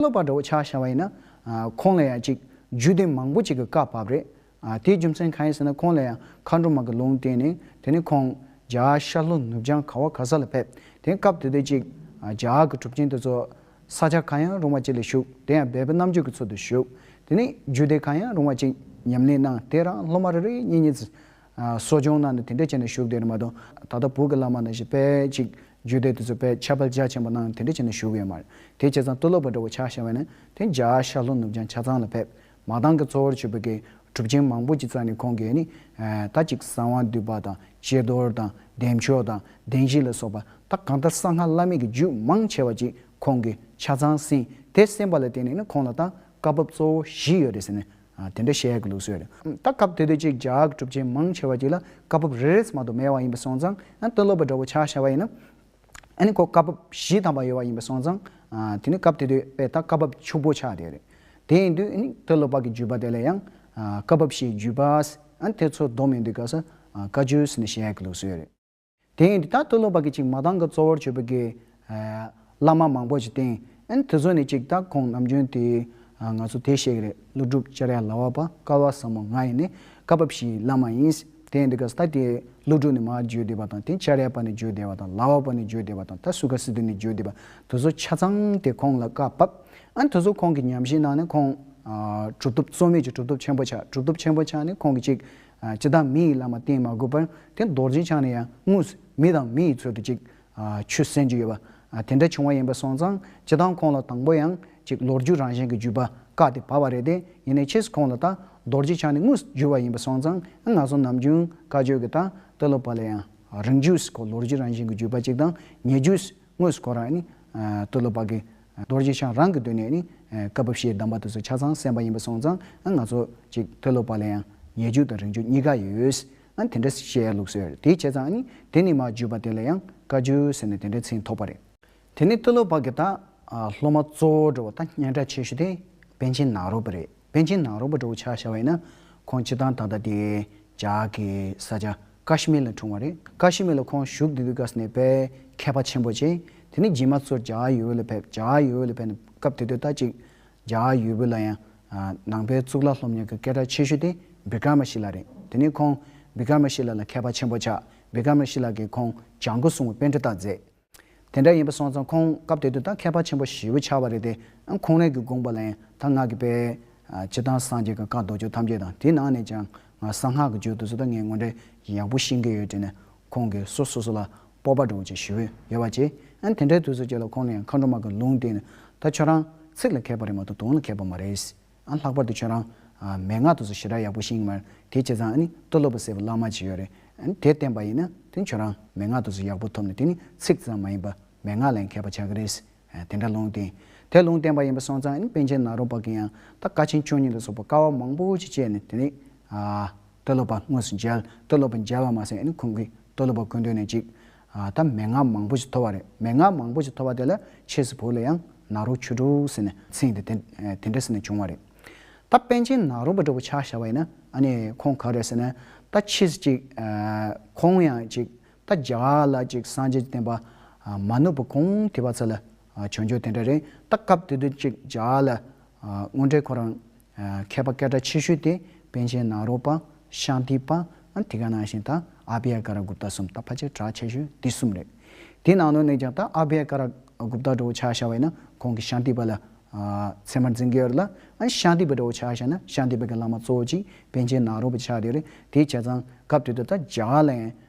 གནོད་པ་འདྲ་བོ་ཆགས་བཞག་པ་ཡིན་ན། ཁོང་ལ་ཡང་ཅིག་རྒྱུད་སྡེ་མང་པོ་ཅིག་གི་བཀའ་བབས་རེད། དེའི་རྒྱུ་མཚན་གང་ཡིན་ཟེར་ན་ཁོང་ལ་ཡང་མཁའ་འགྲོ་མ་གི་ལུང་བསྟན་ནས་དེ་ནས་ཁོང་རྒྱ་ཤར་ལྷོ་ནུབ་བྱང་ག་བ་ག་ས་ལ་ཕེབས་དེ་སྐབས་དེ་དུས་ཅིག་རྒྱ་གི་གྲུབ་ཆེན་དེ་ཚོ་ས་ཆ་གང་ཡང་རུང་བ་ཅིག་ལ་བཞུགས་དེ་ཡང་སྦས་པའི་རྣམ་དཔྱོད་ཀྱི་ཚུལ་དུ་བཞུགས་དེ་ནས་རྒྱུད་སྡེ་གང་ཡང་རུང་བ་ཅིག་ཉམས་ལེན་གནང་དེ་རང་སློབ་མ་རེ་རེ་གཉིས་གཉིས་གསོ་སྦྱོང་གནང་ནས་དེ་འདྲས་བྱས་ནས་བཞུགས་དེར་མ་གཏོགས་ད་ལྟ་བོད་ཀྱི་བླ་མ་རྣམས་ཞིག་དཔལ་ཅིག་རྒྱུད་སྡེ་དེ་ཚོ་དཔལ་ཆབ་དཔལ་འཇག་ཆེན་པོ་གནང་ནས་དེ་འདྲས་བྱས་ནས་བཞུགས་ཡོད་མ་རེད་དེ་བྱས་ཙང་སྟོད་ལོག་པ་འདྲ་བོ་ཆགས་ཤར་བས་ན་དེ་འཇག་ཤར་ལྷོ་ནུབ་བྱང་ཆ་ཚང་ལ་ཕེབས་མ་གཏང་གི་གཙོ་བོར་ཆོས་བོད་ཀྱི་གྲུབ་ཆེན་མང་པོ་ཅིག་བཙལ་ནས་ཁོང་གིས་ནི་ད་ཅིག་གསང་བ་འདུས་པ་དང་སྤྱི་རྡོར་དང་བདེ་མཆོག་དང་བདེན་བཞི་ལ་སོགས་པ་ད་གང་ལྟར་གསང་སྔགས་བླ་མེད་ཀྱི་རྒྱུད་མང་ཆེ་བ་ཅིག་ཁོང་གིས་ཆ་ཚང་གསན་དེ་གསན་པ་ལ་བརྟེན་ནས་ནི་ཁོང་ལ་ད་བཀའ་བབས་གཙོ་བོ་བཞི་ཡོད་རེད་ཟེར་ནས་དེ་འདྲ་བཤད་གི་འདུག་ཟེར། ད་སྐབས་དེ་དུས་ཅིག་ཇག་གྲུབ་ཆེན་མང་ཆེ་བ་ཅིག་ལ་བཀའ་བབས་རེ་རེས་མ་གཏོགས་མེད་བ་ཡིན་པ་སོང་ཙང་དཔོན་སློབ་པ་འདྲ་བོ་ཆགས་ཤར་བ་ཡིན། ཨ་ནི་ཁོ་བཀའ་བབས་བཞི་ཐམ་པ་ཡོད་བ་ཡིན་པ་སོང་ཙང། དེ་ནི་སྐབས་དེ་དུས་པས་ད་བཀའ་བབས་བཅུ་པོ་ཆགས་དེ་རེད། དེ་ཡིན་དུས་ཨནི་དཔོན་སློབ་པ་གི་བརྒྱུད་པ་དེ་ལ་ཡང། བཀའ་བབས་བཞིའི་བརྒྱུད་པ། ཨ་ནི་དེ་ཚོ་བསྡོམས་ཡིན་དུས་ག་ས་བཀའ་བརྒྱུད་ཟེར་ནས་བཤད་གི་འདུག་ཟེར། དེ་ཡིན་དུས་ད་དུ་ལོ་བར་གྱི་ཅིག་མ་དང་གི་གཙོ་བོར་གྱུར་པའི་གི། བླ་མ་མང་པོ་ཞིག་བསྟེན། དེ་ཚོ་ནས་ཅིག་ད་ཁོང་ནམ་རྒྱུན་དུས། ང་ཚོ་དེ་ཤེས་གི་རེད་ཀླུ་སྒྲུབ་བཅར་ཡ་ལ་བ་པ་ཀ་བ་ཟབ་མོ་ང་ཡིན་ནི་ཀ་བབ་ཞིག་བླ་མ་ཡིན། དེ་ཡིན་དུས་ག་ས་ད་དེ་ཀླུ་སྒྲུབ་ནས་མ་བརྗོད་བསྡད་པ་དང་དེ་བཅར་ཡ་པ་ནས་བརྗོད་བསྡད་པ་དང་ལ་བ་པ་ནས་བརྗོད་བསྡད་པ་དང་ད་སུ་ག་སི་དེ་ནས་བརྗོད་བསྡད་པ་དེ་ཚོ་ཆ་ཚང་དེ་ཁོང་ལ་ཀ་བབ། དེ་ཚོ་ཁོང་གི་ཉམས་བཞེས་གནང་ནས་ཁོང། གྲུབ་ཐོབ་རྩོལ་མེད་ཀྱི་གྲུབ་ཐོབ་ཆེན་པོ་ཆགས་གྲུབ་ཐོབ་ཆེན་པོ་ཆགས་ནས་ཁོང་གི་ཅིག། ཅི་བདག་མི་ཡི་བླ་མ་བསྟེན་མ་དགོས་པར་དེ་རྡོ་རྗེ་འཆང་ནས་ཡང་དངོས་སུ་མི་དང་མི་ཡི་ཚུལ་དུ་ཅིག་ཆུ་གསན་རྒྱུ་ཡོད་པ། དེ་འདྲ་བྱུང་བ་ཡིན་པ་སོང་ཙང་ཅི་ལྟར་ཁོང་ལ་དང་པོ་ཡང་ཅིག་ལོ་རྒྱུས་རང་བཞིན་གྱི་བརྒྱུད་པ་བཀག་ཏེ་བབས་པ་རེད་དེ་ཡིན་ནའི་ཕྱིས་སུ་ཁོང་ལ་ད་རྡོ་རྗེ་འཆང་ནས་དངོས་སུ་བསྒྱུར་བ་ཡིན་པ་སོང་ཙང་ང་ཚོ་ནམ་རྒྱུན་བཀའ་ཆོས་ཀྱི་ད་ལྟ་ལོ་པ་ལ་ཡང་རིང་བརྒྱུད་སུ་ཁོ་ལོ་རྒྱུས་རང་བཞིན་གྱི་བརྒྱུད་པ་ཅིག་དང་ཉེ་བརྒྱུད་སུ་དངོས་སུ་ཁོ་རང་ནི། སྟོད་ལོ་པ་གི། རྡོ་རྗེ་འཆང་རང་གི་དུས་ནས་ནི། བཀའ་བབས་ཞེས་གདམས་པ་དེ་ཚོ་ཆ་ཚང་གསན་པ་ཡིན་པ་སོང་ཙང་ང་ཚོ། ཅིག་སྟོད་ལོ་པ་ལ་ཡང། ཉེ་བརྒྱུད་དང་རིང་བརྒྱུད་གཉིས་ཀ་ཡོད། དེ་འདྲ་བཤད་ལུགས་སོས་དེའི་བྱས་ཙང་ནི། དེ་ནི་མ་བརྒྱུད་པ་དེ་ལ་ཡང་བཀའ་བརྒྱུད་ཟེར་ནས་དེ་འདྲའི་མཚན་ཐོགས་པ་རེད། དེ་ནི་སྟོད་ལོ་པ་གི་དང། སློབ་མ་གཙོ་བོ་འགྲོ་བ་དང་སྙན་གྲགས་ཆེ་ཤོས་དེ། པན་ཆེན་ནག་རོག་པ་རེད་པན་ཆེན་ནག་རོག་པ་འགྲོ་བོ་ཆགས་བཞག་བས་ན། ཁོང་སྤྱི་བཏང་ད་ལྟ་དེ། ཇག་གི་ས་ཆ། ཀཱ་ཤི་མིར་ལ་འཁྲུངས་བ་རེད། ཀཱ་ཤི་མིར་ལ་ཁོང་བཞུགས་དུས་དུས་ཀཱ་སི་ནེ་པའི་མཁས་པ་ཆེན་པོ་ཆེ། དེ་ནས་རྗེས་མ་ཚོར་ཇཱ་ཨ་ཡོའུ་ལ་ཕེབས། ཇཱ་ཨ་ཡོའུ་ལ་ཕེབས་ནས་སྐབས་དེ་དུས་ད་ཅིག་ཇཱ་ཨ་ཡོའུ་ལ་ཡང། ནང་པའི་གཙུག་ལག་སློབ་གཉེར་གྱི་སྐད་གྲགས་ཆེ་ཤོས་དེ་བི་ཀར་མ་ཤི་ལ་རེད། དེ་ནས་ཁོང་བི་ཀར་མ་ཤི་ལ་ལ་མཁས་པ་ཆེན་པོ་ཆགས། བི་ཀར་མ་ཤི་ལ་གིས་ཁོང་ལྗང་ཁུ་སྲུང་བའི་དཔེ་འཕྲིན་དག་མཛད། དེ་འདྲ་ཡིན་པ་སོང་ཙང་ཁོང་སྐབས་དེ་དུས་ད་མཁས་པ་ཆེན་པོ་ཞེ་བོ་ཆགས་པ་རེད་དེ། ཁོང་རང་གི་དགོངས་པ་ལ་ཡང་ད་སྔགས་ཀྱི་དཔལ། སྤྱི་བཏང་སངས་རྒྱས་ཀྱི་བཀའ་ཟློག་ཆོག་ཐམས་ཅད་དང་དེའི་ནང་ནས་ཀྱང་ང་གསང་སྔགས་ཀྱི་རྒྱུད་དུ་སོ་ད་ངས་ངོ་འདྲེན་ཡག་པོ་ཤེས་ཀྱི་ཡོད་དྲིས་ནས་ཁོང་གིས་སོ་སོ་སོ་ལ་སྤོབས་པ་འགྲོ་བྱེད་ཞུ་འོས་ཡོད་པ་བྱས། དེ་འདྲའི་དུས་སུ་ཁྱེད་ལ་ཁོང་ནས་མཁའ་འགྲོ་མ་གི་ལུང་བསྟན་ནས་ད་ཁྱོད་རང་ཚིག་ལ་མཁས་པ་རེད་མ་གཏོགས་དོན་ལ་མཁས་པ་མ་རེད། ཨ་ལྷག་པར་དུ་ཁྱོད་རང། མན་ངག་ཏུ་སུ་ཞི་དྲག་ཡག་པོ་ཤེས་ཀྱི་མ་རེད། དེ་བྱས་ཙང་ཨ་ནི་སྟོད་ལྷ་བུ་སེར་པོ་གླང་མ་བྱེད་ཡོད་རེད། དེ་བསྟན་པ་ཡིན་ན་དེ་ཁྱོད་རང་མན་ངག་ཏུ་སུ་ཡག་པོ་ཐོབ་ནས་དེ་ནི་ཚིག་ཙམ་མ་ཡིན་པ་མན་ངག་ལ་ཡང་མཁས་པ་ཆགས་ཀྱི་རེད། དེ་འདྲ་ལུང་བསྟན། དེ་ལུང་བསྟན་པ་ཡིན་པ་སོང་ཙང་ཨ་ནི་པན་ཆེན་ནཱ་རོ་པ་གིས་ཡང་ད་བཀའ་ཆེན་ཆོས་ཉིད་ལ་སོགས་པ་དཀའ་བ་མང་པོ་ཞིག་སྤྱད་ནས་དེ་ནི། སྟོད་ལྷ་བ་དངོས་སུ་མཇལ། སྟོད་ལྷ་བ་མཇལ་བ་མ་ཟད་ཨ་ནི་ཁོང་གིས་སྟོད་ལྷ་བ་དགོན་སྡོད་ནས་ཅིག། ད་མན་ངག་མང་པོ་ཞིག་ཐོབ་བ་རེད་མན་ངག་མང་པོ་ཞིག་ཐོབ་བ་དེ་ལ་ཆས་སུ་བོས་ལ་ཡང་ནག་རུག་ཆུ་དྲུག་ཟེར་ནས་ཚིག་འདི་དེ་འདྲ་ཟེར་ནས་བྱུང་བ་རེད། ད་པན་ཆེན་ནག་རུག་པ་འདྲ་བོ་ཆགས་བཞག་པ་ཡིན་ན་ཨ་ནི་ཁོང་ག་རེད་ཟེར་ན་ད་ཕྱིས་ཅིག་ཁོང་ཡང་ཅིག་ད་རྒྱ་གར་ལ་ཅིག་སངས་རྒྱས་ཀྱི་བསྟན་པ་མ་ནུབ་པ་གོང་དེ་བ་ཚོ་ལ་བྱང་ཆུབ་དེ་འདྲ་རེད་ད་སྐབས་དེ་དུས་གཅིག་ཇག་ལ་དངོས་འབྲེལ་ཁོ་རང་མཁས་པ་སྐད་གྲགས་ཆེ་ཤོས་དེ་པན་ཆེན་ནཱ་རོ་པ་ཤཱ་ཏི་པ་དེ་ག་ནང་བཞིན་ད་ཨ་བྷེ་ཡ་ཀ་ར་གུབ་ཏ་གསུམ་ད་ཕལ་ཆེར་གྲགས་ཆེ་ཤོས་དེ་གསུམ་རེད་དེའི་ནང་དོན་ནས་ཀྱང་ད་ཨ་བྷེ་ཡ་ཀ་ར་གུབ་ཏ་འདྲ་བོ་ཆགས་ཤ་བས་ན་ཁོང་གི་ཤཱ་ཏི་པ་ལ་ཚད་མར་འཛིན་གི་ཡོད་རེད་ལ་ཤཱ་ཏི་པ་འདྲ་བོ་ཆགས་ཤ་ན་ཤཱ་ཏི་པ་གི་བླ་མ་གཙོ་བོ་གཅིག་པན་ཆེན་ནཱ་རོ་པ་ཆགས་དེ་རེད་དེའི་བྱས་ཙང་སྐབས་དེ་དུས་ད་ཇག་ལ་ཡང་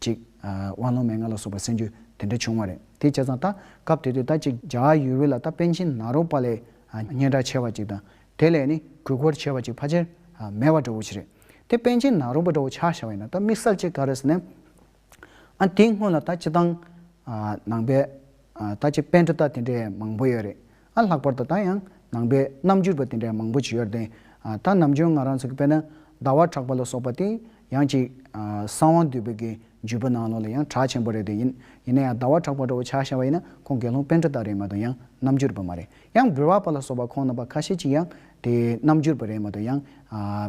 ཅིག། དབང་ལུང་མན་ངག་ལ་སོགས་པར་གསན་རྒྱུ་དེ་འདྲ་བྱུང་བ་རེད། དེ་བྱས་ཙང་ད་སྐབས་དེ་དུས་ད་ཅིག་རྒྱ་ཡུལ་བོད་ལ་ད་པན་ཆེན་ནཱ་རོ་པ་ལས་སྙན་གྲགས་ཆེ་བ་ཅིག་དང་དེ་ལས་ནི་གུས་བཀུར་ཆེ་བ་ཅིག་ཕ་ཆེར་མེད་བ་འདྲ་བོ་ཞིག་རེད། དེ་པན་ཆེན་ནཱ་རོ་པ་འདྲ་བོ་ཆགས་ཤར་བ་ཡིན་ན་ད་དམིགས་བསལ་ཅིག་ག་རེ་ཟེར་ནས། ཨ་དེའི་སྔོན་ལ་ད་སྤྱི་དང། ནང་པའི། ད་ཅིག་པན་གྲུ་དག་དེ་འདྲའི་མང་པོ་ཡོད་རེད། ཨ་ལྷག་པར་དུ་ད་ཡང་ནང་པའི་རྣམ་འགྱུར་པ་དེ་འདྲའི་མང་པོ་བྱེད་ཡོད་དེ། ད་ནམ་རྒྱུན་ང་རང་ཚོ་གི་དཔེ་ན་ཟླ་བ་གྲགས་པ་ལ་སོགས་པ་དེ་ཡང་ཅིག་གསང་བ་འདུས་པའི་གི་བརྒྱུད་པ་ནང་ལོགས་ལ་ཡང་གྲགས་ཆེན་པོ་རེད་དེ་ཡིན་ཡིན་ན་ཡང་ཟླ་བ་གྲགས་པ་འདྲ་བོ་ཆགས་ཤར་བ་ཡིན་ན་ཁོང་དགེ་སློང་དཔོན་འདྲ་དག་རེད་མ་གཏོགས་ཡང་རྣམ་འགྱུར་པ་མ་རེད་ཡང་འབུལ་བ་པ་ལ་སོགས་པ་ཁོང་རྣམ་པ་ཁ་ཤས་ཅིག་ཡང་དེ་རྣམ་འགྱུར་པ་རེད་མ་གཏོགས་ཡང་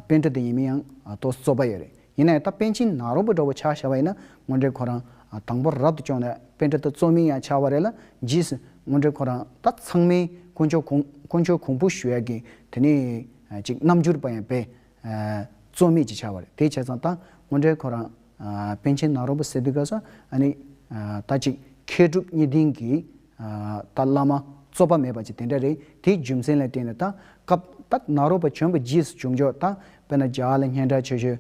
དཔོན་འདྲ་དེ་ཡིན་མིན་ཡང་རྟོགས་རྩོད་པ་ཡོད་རེད། ཡིན་ནའི་ད་པན་ཆེན་ནག་རོང་པོ་འདྲ་བོ་ཆགས་ཤར་བ་ཡིན་ན་དངོས་འབྲེལ་ཁོ་རང་དང་པོར་རབ་ཏུ་བཅོངས་ནས་པན་ཏྲ་ད་གཙོ་མིང་ཡང་ཆགས་བ་རེད་ལ་རྗེས་སུ་དངོས་འབྲེལ་ཁོ་རང་ད་ཚང་མའི་དཀོན་མཆོག་དཀོན་མཆོག་གོང་བུ་ཞུ་ཡ་གི་དེ་ནས་ཅིག་རྣམ་འགྱུར་པ་ཡང་པས་རྩོད་མེད་ཅིག་ཆགས་བ་རེད་དེ་བྱས་ཙང་ད་དངོས་འབྲེལ་ཁོ་རང་པན་ཆེན་ནག་རོང་པོ་ཟེར་དུས་ག་ས་ཨ་ནི་ད་ཅིག་མཁས་གྲུབ་གཉིས་ལྡན་གྱི་ད་བླ་མ་རྩོད་པ་མེད་པ་ཅི་དེ་འདྲ་རེད་དེའི་རྒྱུ་མཚན་ལ་བལྟས་ན་ད་སྐབས་ད་ནཱ་རོ་པ་གྱོན་པ་རྗེས་སུ་བྱུང་ཆོག་ད་དཔེར་ན་རྒྱ་གར་ལ་སྙན་གྲགས་ཆེ་ཤོས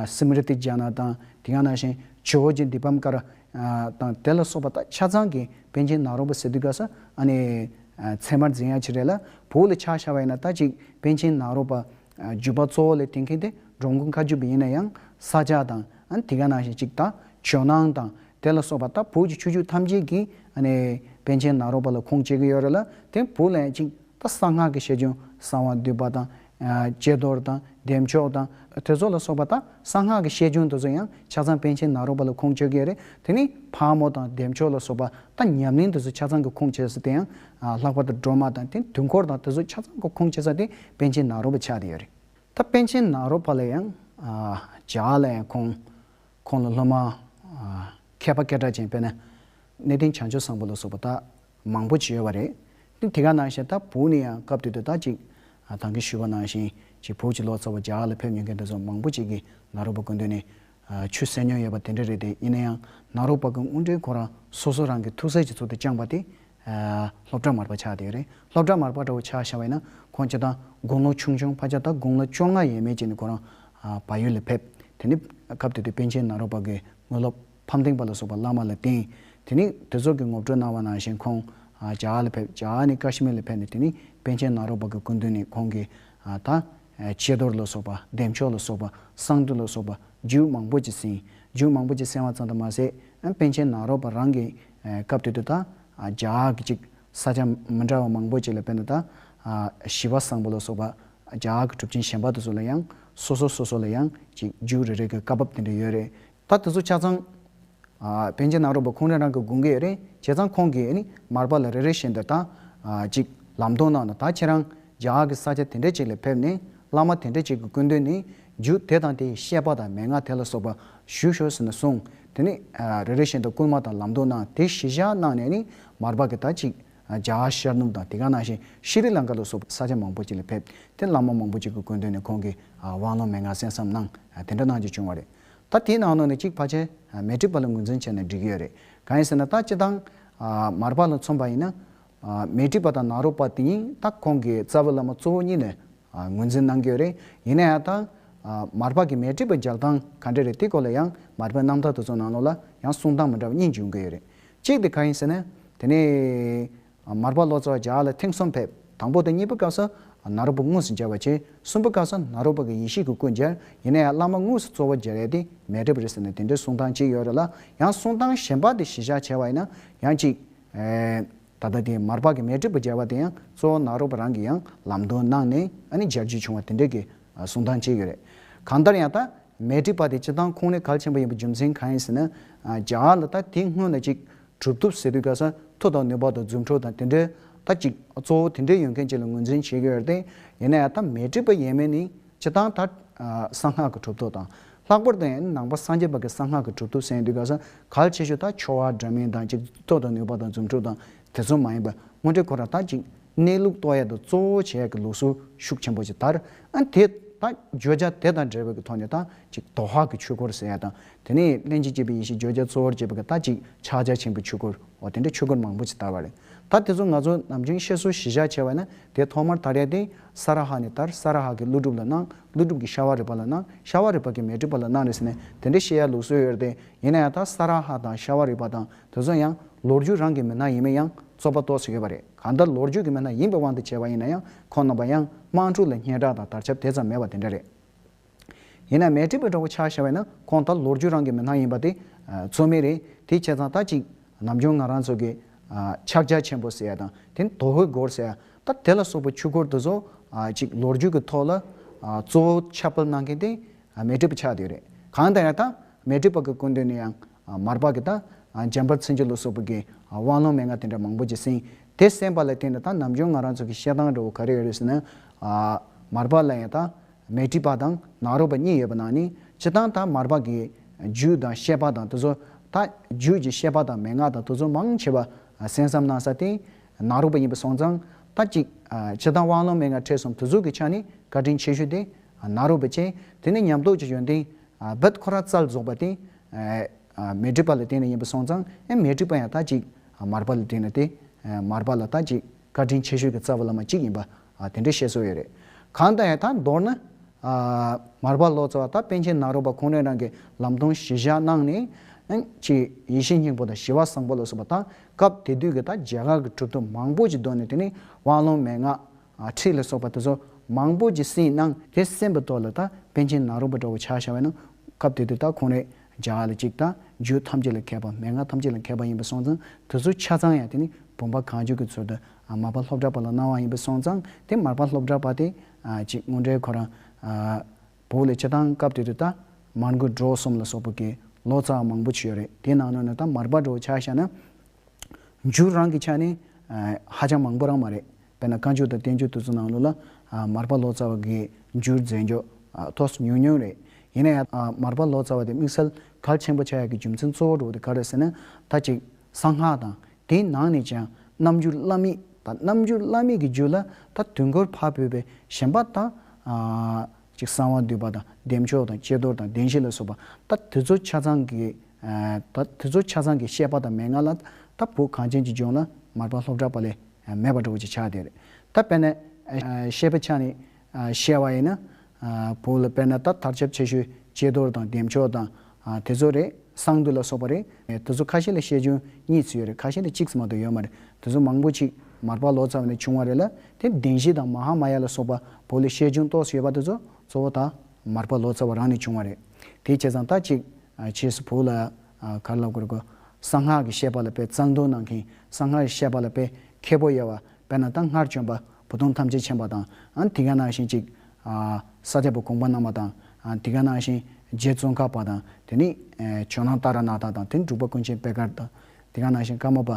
Smriti Jana དང་དེ་ག་ནང་བཞིན George Dipamkar དང་དེ་ལ་སོགས་པ་ད་ཆ་ཚང་གི་པན་ཆེན་ནཱ་རོ་པ་སེ་དུ་ག་ས་ཨ་ནི་ཚད་མར་འཛིན་ཡ་ཆེ་རེད་ལ་བོད་ལ་ཆགས་ཤར་བ་ཡིན་ན་ད་ཅིག་པན་ཆེན་ནཱ་རོ་པ་བརྒྱུད་པ་གཙོ་བོ་ལས་དེ་མཁན་དེ་འབྲོང་དགུ་མཁའ་སྤྱོད་པ་ཡིན་ན་ཡང་ས་ཆ་དང་དེ་ག་ནང་བཞིན་ཅིག་ད་ཇོ་ནང་དང་དེ་ལ་སོགས་པ་དང་བོད་ཀྱི་ཆོས་བརྒྱུད་ཐམས་ཅད་ཀྱི། པཎ་ཆེན་ནཱ་རོ་པ་ལ་ཁུངས་སྐྱེལ་གྱི་ཡོད་རེད་ལ་དེ་བོད་ལ་ཡང་ཅིག་ད་གསང་སྔགས་ཀྱི་ཤེས་འཇོན་གསང་བ་འདུས་པ་དང། དཔྱད་རྡོར་དང་བདེ་མཆོག་དང། དེ་ཚོ་ལ་སོགས་པ་དག་གསང་སྔགས་ཀྱི་ཤེས་འཇོན་དེ་ཚོ་ཡང་ཆ་ཚང་པཎ་ཆེན་ནཱ་རོ་པ་ལ་ཁུངས་སྐྱེལ་གྱི་ཡོད་རེད་དེ་ནི་ཕག་མོ་དང་བདེ་མཆོག་ལ་སོགས་པ་དང་ཉམས་ལེན་དེ་ཚོ་ཆ་ཚང་གི་ཁུངས་སྐྱེལ་ས་དེ་ཡང། ལྷག་པར་དུ་སྒྲོལ་མ་དང་དེ་དུས་འཁོར་དང་དེ་ཚོ་ཆ་ཚང་གི་ཁུངས་སྐྱེལ་ས་དེ་པཎ་ཆེན་ནཱ་རོ་པ་ཆགས་ཏེ་ཡོད་རེད། ད་པཎ་ཆེན་ནཱ་རོ་པ་ལ་ཡང། ཇག་ལ་ཡང་ཁུངས། ཁོང་ལ་སློབ་མ། མཁས་པ་སྐད་གྲགས་ཅན་དཔལ། གནས་བརྟན་བྱང་ཆུབ་བཟང་པོ་ལ་སོགས་པ་དག་མང་པོ་བྱོན་ཡོད་པ་རེད། དེ་དེ་ག་ནང་བཞིན་ད་བུག་ནས་ཡང་སྐབས་དུས་དུ་ད་ཅིག་དང་གིས་ཞུས་པ་ནང་བཞིན་ཅིག་བུག་ཅིག་ལོ་ཙཱ་བ་རྒྱ་གར་ལ་ཕེབས་ཉོན་མཁན་འདྲ་ཚོགས་མང་པོ་ཅིག་གིས་ནཱ་རོ་པ་དགོན་དུ་ནས་ཆུ་བསད་མྱོང་ཡོད་པ་དེ་འདྲ་རེད་དེ་ཡིན་ན་ཡང་ནཱ་རོ་པ་དགོན་དབུ་འབྲེལ་ཁོ་རང་སོ་སོ་རང་གིས་ཐུགས་སྲས་ཀྱི་ཚུལ་དུ་བསྐྱངས་པ་དེ་སློབ་གྲྭ་མར་པ་ཆགས་བསྡད་རེད། སློབ་གྲྭ་མར་པ་འདྲ་བོ་ཆགས་ཤར་བས་ན་ཁོང་སྤྱི་དང་དགུང་ལོ་ཆུང་ཆུང་ཕ་ཆ་ད་དགུང་ལོ་བཅོ་ལྔ་ཡས་མས་ཀྱི་ནི་ཁོ་རང་བག་ཡོད་ལ་ཕེབས། དེ་ནི་སྐབས་དེ་དུས་པཎ་ཆེན་ནཱ་རོ་པ་གིས་དངོས་སློབ་ཕམ་སྟེང་པ་ལ་སོགས་པ་བླ་མ་ལ་བསྟེན། དེ་ནི་དེ་སོགས་ཀྱི་ངོ་སྤྲོད་གནང་བ་ནང་བཞིན་ཁོང་ཇཱ་ཨ་ལ་ཕེབས་ཇཱ་ཨ་ནི་ཀ་ཤི་མིར་ལ་ཕེབས་ནས་དེ་ནི་པན་ཆེན་ནཱ་རོ་པ་གི་སྐུ་མདུན་ནས་ཁོང་གིས་ད་ཆད་རྡོར་ལ་སོགས་པ་བདེ་མཆོག་ལ་སོགས་པ་གསང་འདུས་ལ་སོགས་པ་རྒྱུད་མང་པོ་ཅིག་གསན། རྒྱུད་མང་པོ་ཅིག་གསན་བ་ཙམ་དུ་མ་ཟད་པན་ཆེན་ནཱ་རོ་པ་རང་གིས་སྐབས་དེ་དུ་ད་ཇག་གི་ཅིག་ས་ཆ་མི་འདྲ་བ་མང་པོ་ཅིག་ལ་བན་དུ་ད་ཞི་བ་བཟང་པོ་ལ་སོགས་པ་ཇག་གི་གྲུབ་ཆེན་གཞན་པ་དུ་ཚོ་ལ་ཡང་སོ་སོ་སོ་སོ་ལ་ཡང་ཅིག་རྒྱུགས་རེ་རེ་གི་བཀའ་བབས་དེ་འདྲ་ཡོད་རེད། ད་དེ་ཚོ་ཆ་ཚང་བན་རྗེ་ནག་རོག་པ་ཁོང་རང་རང་གི་དགུན་ཁའི་རིང་བྱས་ཙང་ཁོང་གི་མར་པ་ལ་རེ་རེ་བཞིན་དུ་ད་ཅིག་ལམ་སྟོན་གནང་ན་ད་ཁྱེད་རང་ཇག་གི་ས་ཆ་དེ་འདྲ་ཅིག་ལ་ཕེབས་ནས་བླ་མ་དེ་འདྲ་ཅིག་གི་སྐུ་མདུན་ནས་རྒྱུགས་དེ་དང་དེ་བཤད་པ་དང་མན་ངག་དེ་ལ་སོགས་པ་ཞུ་ཞོར་ཟིན་ན་གསུང་དེ་ནི་རེ་རེ་བཞིན་དུ་རྐུན་མ་དང་ལམ་འདོགས་གནང་དེ་གཞི་བཞག་གནང་ནས་ནི་མར་བག་གི་ད་ཅིག་རྒྱ་གར་ཤར་ནུབ་དང་དེ་ག་ནང་བཞིན་ཤི་རི་ལངྐ་ལ་སོགས་པའི་ས་ཆ་མང་པོ་ཅིག་ལ་ཕེབས་དེ་བླ་མ་མང་པོ་ཅིག་གི་དགོན་དོན་ནས་ཁོང་གི་དབང་ལུང་མན་ངག་གསན་བསམ་གནང་དེ་འདྲ་གནང་རྒྱུ་བྱུང་བ་རེད། ད་དེའི་ནང་ནང་ནས་གཅིག་ཕ་ཆེན་མེ་ཏྲི་པ་ལ་ངོས་འཛིན་བྱས་ནས་འབྲི་གི་ཡོད་རེད་གང་ཡིན་ཟེར་ན་ད་སྤྱི་དང་མར་བག་ལ་མཚུངས་པ་ཡིན་ན། མེ་ཏྲི་པ་དང་ནཱ་རོ་པ་དེ་གཉིས་ད་ཁོང་གི་རྩ་བའི་བླ་མ་གཙོ་བོ་གཉིས་ནས་ངོས་འཛིན་གནང་རྒྱུ་རེད། ཡིན་ན་ཡང། མར་པགས་ཀྱི་མེ་དཀྲིས་པ་རྒྱག་སྟངས་ག་འདྲ་རེད་དེའི་སྐོར་ལ་ཡང་མར་པའི་རྣམ་ཐར་དུ་ཚོགས་ནང་ལོགས་ལ་ཡང་གསུང་སྟངས་མི་འདྲ་བ་གཉིས་འབྱུང་གི་ཡོད་རེད། གཅིག་དེ་ག་ཡིན་ཟེར་ན། དེ་ནས། མར་པགས་ལོ་ཙཱ་བ་རྒྱག་ལ་ཐེངས་གསུམ་ཕེབས། དང་པོ་དང་གཉིས་པའི་སྐབས་སུ་ནཱ་རོ་པ་དངོས་སུ་མཇལ་བར་བྱས། གསུམ་པའི་སྐབས་སུ་ནཱ་རོ་པ་གི་ཡེ་ཤེས་ཀྱི་སྐུ་མཇལ། ཡིན་ན་ཡང་བླ་མ་དངོས་སུ་གཙོ་བོ་མཇལ་ཡས་དེ་མེད་འགྲིབ་རེད་ཟེར་ནས་དེ་འདྲའི་གསུང་སྟངས་གཅིག་ཡོད་རེད་ལ་ཡང་གསུང་སྟངས་གཞན་པ་དེ་གཞི་བཞག་བྱས་བ་ཡིན་ན་ཡང་གཅིག། ད་ལྟ་དེ་མར་ཕག་གི་མེ་དྲིལ་བུ་སྦྱར་བ་དེ་ཡང་གཙོ་བོ་ནཱ་རོ་པ་རང་གིས་ཡང་ལམ་སྟོན་གནང་ནས་ནི་སྦྱར་རྒྱུ་བྱུང་བ་དེ་འདྲའི་གི་གསུང་སྟངས་བྱས་ཡོད་རེད། གང་ལྟར་ཡང་ད་མེ་དྲིལ་བ་དེ་སྤྱི་སྟངས་ཁུངས་ལས་གལ་ཆེན་པོ་ཡིན་པའི་རྒྱུ་མཚན་གང་ཡིན་ཟེར་ན། རྒྱ་གར་ལ་ད་དེ་སྔོན་ལ་གཅིག་གྲུབ་ཐོབ་ཟེར་དུས་ག་ས་མཐོ་དང་ནུས་པ་དང་རྫུ་འཕྲུལ་དང་དེ་འདྲའི་ད་གཅིག་གཙོ་བོ་དེ་འདྲའི་ཡོད་མཁན་གཅིག་ལ་ངོས་འཛིན་བྱས་ཡོད་རེད་དེ་ཡིན་ན་ཡང་ད་མེ་དྲིལ་བ་ཡས་མས་ནི་བྱེད་སྟངས་དང། གསང་སྔགས་ཀྱི་གྲུབ་ཐོབ་དང། ལྷག་པར་དུ་ཡང་ནང་པ་སངས་རྒྱས་པ་ཀྱི་གསང་སྔགས་ཀྱི་གྲུབ་ཐོབ་གསན་དུས་གང་ཟག་གལ་ཆེ་ཤོས་དག་ཆོ་ག་འདྲ་མིན་དང་གཅིག་ཏུ་ཐོག་དང་ནུས་པ་དང་རྫུ་འཕྲུལ་དང་དེ་ཚོ་མ་ཡིན་པར་དངོས་འབྲེལ་ཁོ་རང་དག་ཅིག་གནས་ལུགས་རྟོགས་ཡས་དང་གཙོ་བོ་བྱས་ཀྱི་ལུགས་སྲོལ་ཤུགས་ཆེན་པོ་ཅིག་དར། དེ་དང་བརྗོད་བྱ་དེ་དང་འབྲེལ་བའི་ཀྱི་ཐོག་ནས་དག་ཅིག་དོ་ཧ་ཀྱི་ཆོས་འཁོར་ཟེར་ཡས་དང་དེ་ནས་སྨན་གྱིས་བསྐྱེད་པའི་ཡེ་ཤེས་བརྗོད་བྱ་གཙོ་བོར་བྱས་པ་ཀྱི་དག་ཅིག་ཕྱག་རྒྱ་ཆེན་པོའི་ཆོས་འཁོར་བ་དེ་འདྲའི་ཆོས་འཁོར་མང་པོ་ཅིག་དར་བ་རེད། ད་དེ་ཚོ་ང་ཚོ་ནམ་རྒྱུན་བཤད་སྲོལ་གཞི་བཞག་བྱས་པ་ན་དེ་ཐོག་མར་དར་ཡས་སྟེ་ས་ར་ཧ་ནས་དར་ས་ར་ཧ་གི་ཀླུ་སྒྲུབ་ལ་སྣང་ཀླུ་སྒྲུབ་ཀྱི་ཤ་བ་རི་པ་ལ་སྣང་ཤ་བ་རི་པ་གི་མེ་དྲི་པ་ལ་སྣང་རེད་ཟེར་ནས་དེ་འདྲའི་བཤད་ཡ་ལུགས་སྲོལ་ཡོད་རེད་དེ་ཡིན་ན་ཡང་ད་ས་ར་ཧ་དང་ཤ་བ་རི་པ་དང་དེ་ཚོ་ཡང་ལོ་རྒྱུས་རང་གི་མི་སྣ་ཡིན་མིན་ཡང་རྩོད་པ་གཏོགས་སུ་ཡོད་པ་རེད་གང་ལྟར་ལོ་རྒྱུས་ཀྱི་མི་སྣ་ཡིན་པའི་དབང་དུ་བྱས་པ་ཡིན་ན་ཡང་ཁོང་རྣམ་པ་ཡང་དམངས་ཕྲུག་ལ་སྙན་གྲགས་དང་དར་ཆབ་དེ་ཙམ་མེད་པ་དེ་འདྲ་རེད། ཡིན་ན་མལ་ཁྲི་པའི་གྲོགས་པོ་ཆགས་བྱ་བས་ན་ཁོང་ད་ལོར་རྒྱུ་རང་གི་མི་སྣང་ཡིན་པ་དེ་ཚོད་མེད་རེད་དེའི་ཁྱད་ཚང་ད་གཅིག་ནམ་རྒྱུན་ང་རང་ཚོ་གི་ཕྱག་རྒྱ་ཆེན་པོ་ཟེར་བ་དང་དེ་ནི་དོ་ཧོའི་སྒོར་ཟེར་བ་ད་དེ་ལ་སོགས་པའི་ཆུ་སྒོར་དེ་ཚོ་གཅིག་ལོ་རྒྱུས་ཀྱི་ཐོག་ལ་གཙོ་བོ་ཁྱབ་སྤེལ་གནང་མཁན་དེ་མལ་ཁྲི་པ་ཆགས་དེ་རེད་གང་ལྟར་ཡང་ད་མལ་ཁྲི་པ་གི་སྐུ་མདུན་ནས་ཡང་མར་པ་གི་ད་འཇམ་དཔལ་ཚེ་འཇུག་ལ་སོགས་པ་གི་དབང་ལུང་མན་ངག་དེ་འདྲ་མང་པོ་ཅིག་གསན་དེ་གསན་པ་ལ་བརྟེན་ནས་ད་ནམ་རྒྱུན་ང་རང་ཚོ་གི་བཤད་སྟངས་འདྲ་བོ་ག་རེ་ཡོད་རེད་ཟེར་ན། མར་པ་ལ་ཡང་ད་མལ་གྲི་པ་དང་ནག་རོག་པ་གཉིས་ཡོད་པ་ན་ནི་ཇི་ལྟར་ད་མར་བག་གི་རྒྱུད་དང་བཤད་པ་དང་དུ་ཚོད་ད་རྒྱུད་ཀྱི་བཤད་པ་དང་མན་ངག་དང་དུ་ཚོད་མང་ཆེ་བ་གསན་བསམ་གནང་ས་དེ་ནག་རོག་པ་ཡིན་པ་སོང་ཙང་ད་ཅིག་ཇི་ལྟར་དབང་ལུང་མན་ངག་ཁྲེས་གསུམ་དུ་ཚོད་ཀྱི་ཆ་ནི་བཀའ་དྲིན་ཆེ་ཤོས་དེ་ནག་རོག་པ་བཅས་དེ་ནས་ཉམས་རྟོགས་ཀྱི་ཡོན་ཏན་བདག་ཁོ་ར་རྩལ་རྫོགས་པ་དེ་མལ་གྲི་པ་ལ་བརྟེན་ནས་ཡིན་པ་སོང་ཙང་ཨེ་མལ་གྲི་པ་ཡང་ད་ཅིག་མར་བག་ལ་བརྟེན་ནས་དེ་མར་བག་ལ་ད་ཅིག་བཀའ་དྲིན་ཆེ་ཤོས་ཀྱི་རྩ་བ་བླ་མ་གཅིག་ཡིན་པ་ཨ་དེ་འདྲའི་བཤད་སྲོལ་ཡོད་རེད། གང་དང་ཡང་ད་མདོར་ན། ཨ། མར་པ་ལོ་ཙཱ་བ་དང་པཎ་ཆེན་ནཱ་རོ་པ་ཁོང་རེ་རང་གིས་ལམ་སྟོན་གཞི་བཞག་གནང་ནས། ཨན། ཅི། ཡེ་ཤེས་སྙིང་པོ་དང་ཞི་བ་བཟང་པོ་ལ་སོགས་པ་དང་སྐབས་དེ་དུས་ཀྱི་ད་རྗེ་ཁག་གི་གྲུབ་ཐོབ་མང་པོ་ཅིག་བཟློག་ནས་དེ་ནས་དབང་ལུང་མན་ངག། ཁྲིད་ལ་སོགས་པ་དེ་ཚོ་མང་པོ་ཅིག་བསྲིངས་གནང། དེ་གསན་པའི་ཐོག་ལ་ད་པཎ་ཆེན་ནཱ་རོ་པ་འདྲ་བོ་ཆགས་བཞག་བས་ན། སྐབས་དེ་དུས་ད་ཁོང་རེ་རྗེ་ཁག་ལ་གཅིག་ད་རྒྱུད་ཐམས་ཅད་ལ་མཁས་པ་མན་ངག་ཐམས་ཅད་ལ་མཁས་པ་ཡིན་པ་སོང་ཙང་དེ་ཚོ་ཆ་ཚང་ཡང་དེ་ནི་བུམ་པ་གང་བྱོས་ཀྱི་ཚུལ་དུ་མར་པ་ལྷོ་བྲག་པ་ལ་གནང་བ་ཡིན་པས་སོང་ཙང་དེ་མར་པ་ལྷོ་བྲག་པ་དེ་གཅིག་དངོས་འབྲེལ་ཁོ་རང་བོད་ལ་སྤྱི་བཏང་སྐབས་དེ་དུས་ད་མར་མགོ་གྲོ་གསུམ་ལ་སོགས་པོ་གི་ལོ་ཙཱ་མང་པོ་བྱོས་རེད་དེ་ནང་ན་ནི་ད་མར་པ་གྲོ་ཆ་ཤ་ན་འཇུ་རང་གི་ཆ་ནས་ཧ་ཅང་མང་པོ་རང་མ་རེད་དཔེར་ན་བཀའ་འགྱུར་དང་བསྟན་འགྱུར་དུས་ཚོད་ནང་ལོ་ལ་མར་པ་ལོ་ཙཱ་བ་གི་འགྱུར་མཛད་མགྱོགས་ཐོ་སུ་ཉུང་ཉུང་རེད་ཡིན་ན་ཡང་མར་པ་ལོ་ཙཱ་བ་དེ་དམིགས་བསལ་གལ་ཆེན་པོ་ཆགས་ཡ་གི་རྒྱུ་མཚན་གཙོ་བོ་གྲོ་དེ་ག་རེ་ཟེར་ན་ད་གཅིག་གསང་སྔགས་དང་དེའི་ནང་ནས་ཀྱང་རྣམ་འགྱུར་བླ་མེད་དང་རྣམ་འགྱུར་བླ་མེད་ཀྱི་རྒྱུད་ལ་ད་དུས་འཁོར་འཕགས་བོད་པའི་ཞེན་པ་དང། ཅིག་གསང་བ་འདུས་པ་དང་བདེ་མཆོག་དང་ཀྱེ་རྡོར་དང་བདེན་བཞི་ལ་སོགས་པ་ད་དུས་ཚོ་ཆ་ཚང་གི་ད་དུས་ཚོ་ཆ་ཚང་གི་བཤད་པ་དང་མན་ངག་ལ་ད་བོད་གངས་ཅན་གྱི་ལྗོངས་ལ་མར་པ་ལྷོ་བྲག་པ་ལས་མེད་པ་འགྲོ་བ་ཅིག་ཆགས་དེར་ད་དཔལ་ནས་བཤད་པའི་ཆ་ནི། བཤད་བ་ཡིན་ན། བོད་ལ་དཔེར་ན་ད་ཐར་ཆབ་ཆེ་ཤོས་ལྕེ་རྡོར་དང་བདེ་མཆོག་དང་དེ་ཚོ་རེད། གསང་འདུས་ལ་སོགས་པ་རེད། དེ་ཚོ་ཁ་ཤས་ལ་ཤེས་འཇོན་གཉིས་ཚུད་ཡོད་རེད་ཁ་ཤས་ལ་གཅིག་ཙམ་མ་གཏོགས་ཡོད་མ་རེད། དེ་ཚོ་མང་པོ་ཅིག་མར་པ་ལོ་ཙཱ་བ་ནས་བྱུང་བ་རེད་ལ་དེ་བདེན་བཞི་དང་མ་ཧཱ་མ་ཡ་ལ་སོགས་པ་བོད་ལ་ཤེས་འཇོན་གཏོགས་སུ་ཡོད་པ་དེ་ཚོ་གཙོ་བོ་ད་མར་པ་ལོ་ཙཱ་བ་རང་ནས་བྱུང་བ་རེད། དེ་བྱས་ཙང་ད་ཅིག་བྱས་སུ་བོད་ལ་ག་རེ་ལབ་དགོས་རེད་གོ། གསང་སྔགས་ཀྱི་བཤད་པ་ལ་དཔེ་གཙང་དོན་ནང་མཁན་གསང་སྔགས་ཀྱི་བཤད་པ་ལ་དཔེ་མཁས་པོ་ཡོད་བ་དཔེར་ན་ད་སྔར་བྱོན་པ་བུ་སྟོང་ཐམས་ཅད་མཆན་པ་དང། དེ་ག་ནང་བཞིན་ཅིག། ས་སྐྱ་པོ་གོང་པ་གནང་བ་དང། དེ་ག་ནང་བཞིན་རྗེ་བཙུན་གར་པ་དང། དེ་ནས་ཇོ་ནང་ཏཱ་ར་ནཱ་ཐ་དང། དེ་ནས་འབྲུག་པ་ཀུན་མཁྱེན་དཔལ་དཀར་དང། དེ་ག་ནང་བཞིན་ཀརྨ་པ་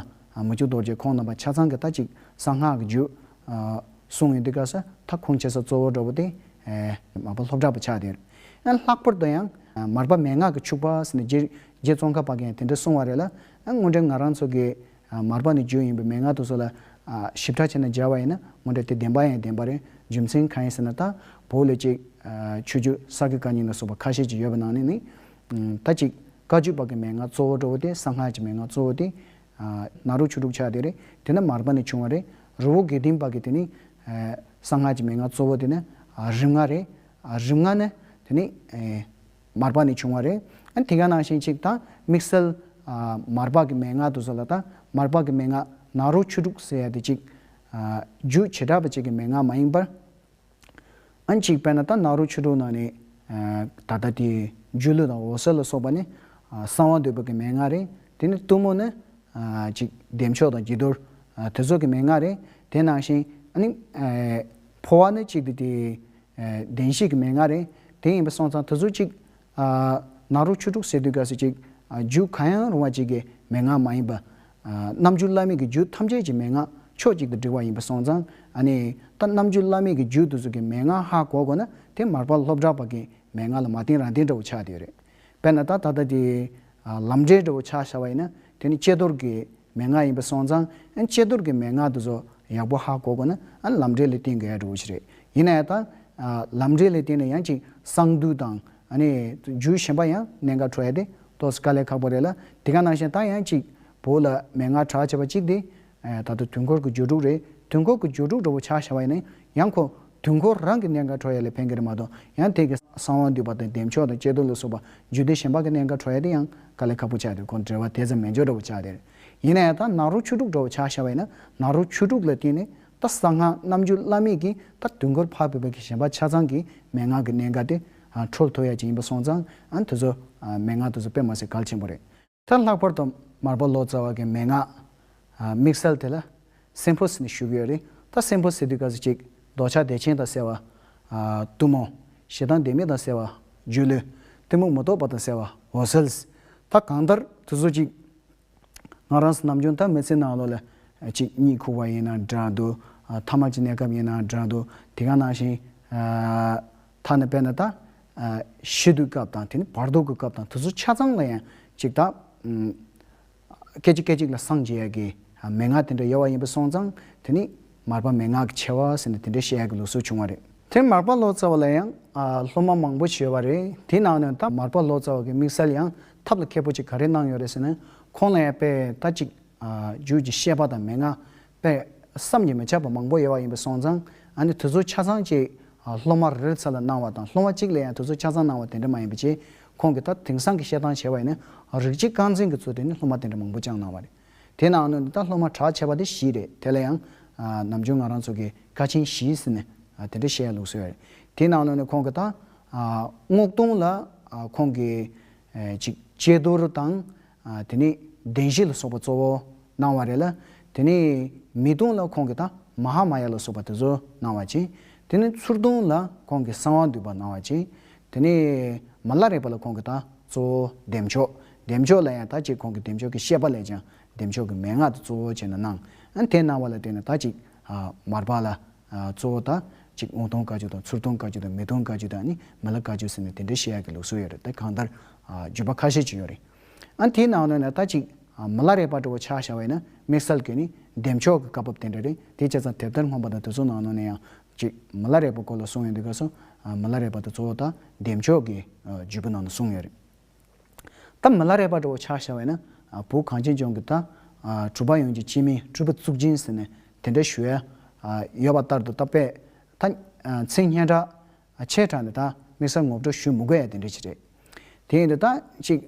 མུ་ཁྱུད་རྡོ་རྗེ་ཁོང་རྣམ་པ་ཆ་ཚང་གི་ད་ཅིག་གསང་སྔགས་ཀྱི་རྒྱུད། གསུང་ཡོད་འདི་ག་ས་ཐག་ཁུང་ཆེ་ས་གཙོ་བོ་འགྲོ་བ་སྟེ། མ་པ་ལྷོ་བྲག་པ་ཕྱག་དེར། ལྷག་པར་དུ་ཡང། མར་པ་མན་ངག་གི་ཕྱུག་པ། རྗེ་བཙུན་གར་པ་གན་དེ་འདྲ་གསུང་བ་རེད་ལ། སྔོན་འགྲོའི་ང་རང་ཚོ་གི། མར་པ་ནི་བརྗོད་ཡིན་པས་མན་ངག་ཏུ་སོགས་ལ། ཞིབ་ཕྲ་བྱས་ན་སྦྱར་བ་ཡིན་ན་ངོ་འདྲ་སྟེ་བདེན་པ་ཡང་བདེན་པ་རེད། རྒྱུ་མཚན་གང་ཡིན་ཟེར་ན་དང་པོ་ལས་གཅིག། ཆོས་བརྒྱུད་གསར་བརྒྱུད་བཀའ་རྙིང་ལ་སོགས་པ་ཁ་ཤས་ཀྱི་ཡོད་པ་ནང་ནས་ནི། ད་གཅིག་བཀའ་བརྒྱུད་པ་གི་མན་ངག་གཙོ་བོ་ཀྲོ་བོ་སྟེ་གསང་སྔགས་ཀྱི་མན་ངག་གཙོ་བོ་སྟེ། ནཱ་རོ་ཆོས་དྲུག་ཆགས་དེ་རེད་དེ་ན་མར་པ་ནི་བྱུང་བ་རེད། རི་བོ་དགེ་ལྡན་པ་གི་དེ་ནི། གསང་སྔགས་ཀྱི་མན་ངག་གཙོ་བོ་དེ་ནི་རིམ་ལྔ་རེད། རིམ་ལྔ་ནི་དེ་ནི། མར་པགས་ནས་བྱུང་བ་རེད། ཨ་དེ་ག་ནང་བཞིན་ཅིག་དང་དམིགས་བསལ། མར་པགས་ཀྱི་མན་ངག་དུ་ཟོ་ལ་དང་མར་པགས་ཀྱི་མན་ངག་ནག་རོ་ཆུ་དྲུག་ཟེར་ཡ་དེ་ཅིག། རྒྱུ་བྱེ་བྲག་པ་ཅིག་གི་མན་ངག་མ་ཡིན་པར། ཨ་ཅིག་དཔེར་ན་ད་ནག་རོ་ཆུ་དྲུག་ནང་ནས། ད་ལྟ་དེ་རྒྱུ་ཀླུ་དང་འོ་ཟེར་ལ་སོགས་པ་ནི། གསང་བ་འདོད་པ་གི་མན་ངག་རེད། དེ་ནི་གཏུམ་མོ་ནི། ཅིག་བདེ་མཆོག་དང་དགྱེས་རྡོར། དེ་ཚོགས་ཀྱི་མན་ངག་རེད། དེ་ནང་བཞིན། ཕོ་བ་ནི་ཅིག་དེ་དེ། གདན་ཞིག་གི་མན་ངག་རེད། དེ་ཡིན་པ་སོང་ཙང་ད་གཟོད་ཅིག། ནག་རོ་ཆུ་དྲུག་ཟེར་དུས་ག་སུ་ཅིག། རྒྱུད་གང་ཡང་རུང་བ་ཅིག་གི་མན་ངག་མ་ཡིན་པ། རྣམ་རྒྱུན་བླ་མེད་ཀྱི་རྒྱུད་ཐམས་ཅད་ཀྱི་མན་ངག་ཕྱོགས་གཅིག་ཏུ་བསྒྲིལ་བ་ཡིན་པ་སོང་ཙང། ནི། ད་རྣམ་རྒྱུན་བླ་མེད་ཀྱི་རྒྱུད་དུ་ཟུར་གྱི་མན་ངག་ཧ་གོ་གོ་ན་དེ་མར་པ་ལྷོ་བྲག་པ་གི་མན་ངག་ལ་མ་བརྟེན་རང་བརྟེན་འདྲ་བོ་ཆགས་ཏེ་ཡོད་རེད། དཔེར་ན་ད་ད་ལྟ་དེ། ལམ་འབྲས་འདྲ་བོ་ཆགས་ཤར་བ་ཡིན་ན་དེ་ནི་དཔྱད་བཟློར་གྱི་མན་ངག་ཡིན་པ་སོང་ཙང་དཔྱད་བཟློར་གྱི་མན་ངག་དེ་ཚོ་ཡག་པོ་ཧ་གོ་དགོས་ན་ལམ་འབྲས་ལས་བསྟེན་དགོས་ཡག་འདྲ་བོ་ཞིག་རེད། ཡིན་ན་ཡང་དང། ལམ་འབྲས་ལས་བསྟེན་ན་ཡང་ཅིག་གསང་འདུས་དང། རྒྱུད་གཞན་པ་ཡང་གནད་འགག་འཕྲོ་ཡ་དེ་ཏོག་དཀའ་ལས་ཁག་པོ་རེད་ལ་དེ་ག་ནང་བཞིན་ད་ཡང་ཅིག་བོད་ལ་མན་ངག་གྲགས་ཆེ་བ་གཅིག་དེ་ད་དུ་དུས་འཁོར་གྱི་སྦྱོར་དྲུག་རེད། དུས་འཁོར་གྱི་སྦྱོར་དྲུག་འགྲོ་བོ་ཆགས་ཞེས་པ་ཡིན་ན་ཡང་ཁོ། དུས་འཁོར་རང་གི་གནས་མཁར་གྲོ་ཡ་ལས་ཕན་གྱི་རེད་མ་གཏོགས་ཡང་ཐེངས་ཀྱི་གསང་བ་འདུས་པ་དང་བདེ་མཆོག་དང་དཔྱད་བསྡུར་ལ་སོགས་པ་བརྒྱུད་དེ་གཞན་པ་གི་གནས་མཁར་གྲོ་ཡ་དེ་ཡང་དཀའ་ལས་ཁག་པོ་བྱས་ཏེ་ཁོང་བྲེལ་བ་དེ་ཙམ་མེད་འཇོག་འགྲོ་བོ་ཆགས་དེ་རེད། ཡིན་ན་ཡང་ད་ནག་རོག་ཆུ་དྲུག་འགྲོ་བོ་ཆགས་ཞེས་པ་ཡིན་ན་ནག་རོག་ཆུ་དྲུག་ལ་བརྟེན་ནས་ད་གསང་སྔགས་རྣམ་བརྒྱུད་བླ་མེད་ཀྱི་ད་དུས་འཁོར་འཕགས་པའི་བར་གྱི་གཞན་པ་ཆ་ཚང་གི་མན་ངག་གི་གནས་མཁར་དེ། ཁྲོལ་ཐོ་ཡ་གཅིག་ཡིན་པ་སོང་ཙང་དེ་ཚོ་མན་ངག་དེ་ཚོ་དཔེ་མ་ཟད་གལ་ཆེན་པོ་རེད། ད་ལྷག་པར་དུ་མར་པ་ལོ་ཙཱ་བ་གི་མན་ངག་དམིགས་བསལ་དེ་ལ་སེམས་ཕུ་ཟེར་ནས་ཞུ་གི་ཡོད་རེད་ད་སེམས་ཕུ་ཟེར་དུས་ག་ཟེ་ཅིག་རྡོ་ཆག་བདེ་ཆེན་དང་ཟེར་བ། གཏུམ་མོ། ཞེ་སྡང་བདེན་མེད་དང་ཟེར་བ། སྒྱུ་ལུས། གཏི་མུག་མུ་ཏོག་པ་དང་ཟེར་བ་འོ་ཟེལ། ད་གང་ལྟར་དུ་ཟོ་ཅིག། ང་རང་སུ་ནམ་བྱུང་ད་མི་ཚེ་ནང་ལོ་ལ་གཅིག་གཉིས་ཁུག་བ་ཡིན་ན་འདྲ་འདུག་ཐ་མ་ཅི་གནས་སྐབས་ཡིན་ན་འདྲ་འདུག་དེ་ག་ནང་བཞིན་ཐ་ན་དཔེར་ན་ད། ཞི་དུལ་སྐབས་དང་དེ་ནི་བར་དོ་གི་སྐབས་དང་དུས་ཚོད་ཆ་ཚང་ལ་ཡང་ཅིག་ད། སྐད་ཅིག་སྐད་ཅིག་ལ་སངས་རྒྱས་ཡ་གི་མན་ངག་དེ་འདྲ་ཡོད་བ་ཡིན་པ་སོང་ཙང་དེ་ནི་མར་པ་མན་ངག་གི་ཆེ་བ་ཟེར་ནས་དེ་འདྲ་བཤད་ཡ་གི་ལུགས་སྲོལ་བྱུང་བ་རེད། དེར་མར་པ་ལོ་ཙཱ་བ་ལ་ཡང་སློབ་མ་མང་པོ་བྱས་བ་རེད་དེའི་ནང་ནས་ད་མར་པ་ལོ་ཙཱ་བ་གི་དམིགས་བསལ་ཡང་ཐབས་ལ་མཁས་པོ་ཅིག་ག་རེ་གནང་ཡོད་རེད་ཟེར་ན་ཁོང་ལ་ཡང་དཔེ་ལྟ་ཅིག་རྒྱུད་ཀྱི་བཤད་པ་དང་མན་ངག་པས། བསམ་གྱིས་མི་ཁྱབ་པ་མང་པོ་ཡོད་པ་ཡིན་པས་སོང་ཙང་ཨ་ནི་དུས་ཚོད་ཆ་ཚང་གཅིག་སློབ་མ་རེ་རེར་ཚད་ལ་གནང་བ་དང་སློབ་མ་གཅིག་ལ་ཡང་དུས་ཚོད་ཆ་ཚང་གནང་བ་དེ་འདྲ་མ་ཡིན་པའི་ཕྱིར་ཁོང་གིས་ད་དེང་སང་གི་བཤད་སྟངས་བྱས་པ་ཡིན་ན་རིགས་གཅིག་རྐང་འཛིན་གྱི་ཚུལ་དུ་ནི་སློབ་མ་དེ་འདྲ་མང་པོ་བསྐྱངས་གནང་བ་རེད། དེས་ན་ཨ་ནུ་ནི་ད་སློབ་མ་གྲགས་ཆེ་བ་དེ་བཞི་རེད་དེ་ལ་ཡང། ནམ་རྒྱུན་ང་རང་ཚོ་གིས་ཀ་ཆེན་བཞི་ཟེར་ནས་དེ་འདྲ་བཤད་ཡ་ལུགས་སྲོལ་ཡོད་རེད། དེས་ན་ཨ་ནུ་ནི་ཁོང་གིས་ད། སྔོག་འཐུང་ལ་ཁོང་གིས། གཅིག། དཔྱད་བསྡུར་དང། དེ་ནས་བདེན་བཞི་ལ་སོགས་པ་གཙོ་བོ་སྣང་བ་རེད་ལ། དེ་ནས་མི་ལྟུང་ལ་ཁོང་གི་དང་མ་ཧཱ་མ་ཡ་ལ་སོགས་པ་དེ་ཚོ་སྣང་བ་ཅན། དེ་ནས་ཚུར་ལྟུང་ལ་ཁོང་གི་གསང་བ་འདུས་པ་སྣང་བ་ཅན། དེ་ནས་མ་སླ་རེག་པ་ལ་ཁོང་གི་དང་གཙོ་བོ་བདེ་མཆོག། བདེ་མཆོག་ལ་ཡང་དག་གཅིག་ཁོང་གི་བདེ་མཆོག་གི་ཤེས་པ་ལས་ཀྱང་བདེ་མཆོག་གི་མན་ངག་དེ་གཙོ་བོ་ཅན་དུ་སྣང། དེ་སྣང་བ་ལ་བརྟེན་ནས་དག་གཅིག་མར་པ་ལ་གཙོ་བོ་དང། གཅིག་འོང་སྟོང་དཀའ་བཅུ་དང་ཚུར་སྟོང་དཀའ་བཅུ་དང་མི་སྟོང་དཀའ་བཅུ་དང་ནི་མི་ལ་དཀའ་བཅུ་ཟེར་ནས་དེ་འདྲའི་བཤད་ཡག་གི་ལུགས་སྲོལ་ཡོད་རེད་དེ་གང་ལྟར། བརྗོད་པ་ཁ་ཤས་ཅིག་ཡོད་རེད། ཨ་དེའི་ནང་ནས་ན་ད་ཅིག། མི་ལ་རས་པ་འདྲ་བོ་ཆགས་ཤ་བས་ན་དམིགས་བསལ་གྱི་ནི་འདེམས་ཕྱོགས་ཀྱི་བཀའ་བབས་དེ་འདྲ་རེད་དེ་བྱས་ཙང་དེབ་ཐེར་སྔོན་པ་དང་དེ་ཚོ་ནང་ནས་ཡང། གཅིག་མི་ལ་རས་པ་སྐོར་ལ་གསུངས་ཡོད་འདུག་ག་སོ། མི་ལ་རས་པ་དང་གཙོ་བོ་དང་འདེམས་ཕྱོགས་ཀྱི་བརྗོད་པོ་ནང་ནས་གསུངས་ཡོད་རེད། ཐ་མི་ལ་རས་པ་དྲོ་བོ་ཆགས་ཤར་བས་ན། བུ་གངས་ཅན་ལྗོངས་ཀྱི་ད། གྲུ་པ་ཡོངས་ཀྱི་སྤྱི་མིང་སྤྲུལ་པ་གཙུག་སྦྱིན་ཟེར་ནས་དེ་འདྲ་ཞུ་ཡ། ཡོད་པ་ལྟར་དུ་ད་པས། ད། ཚིག་སྙན་གྲགས། ཆེ་དྲགས་ནས་ད། དམིགས་བསལ་ངོ་སྤྲོད་ཞུ་མི་དགོས་ཡ་དེ་འདྲའི་ཆེད་རེད། དེ་ཡིན་དུས་ད། ཅིག།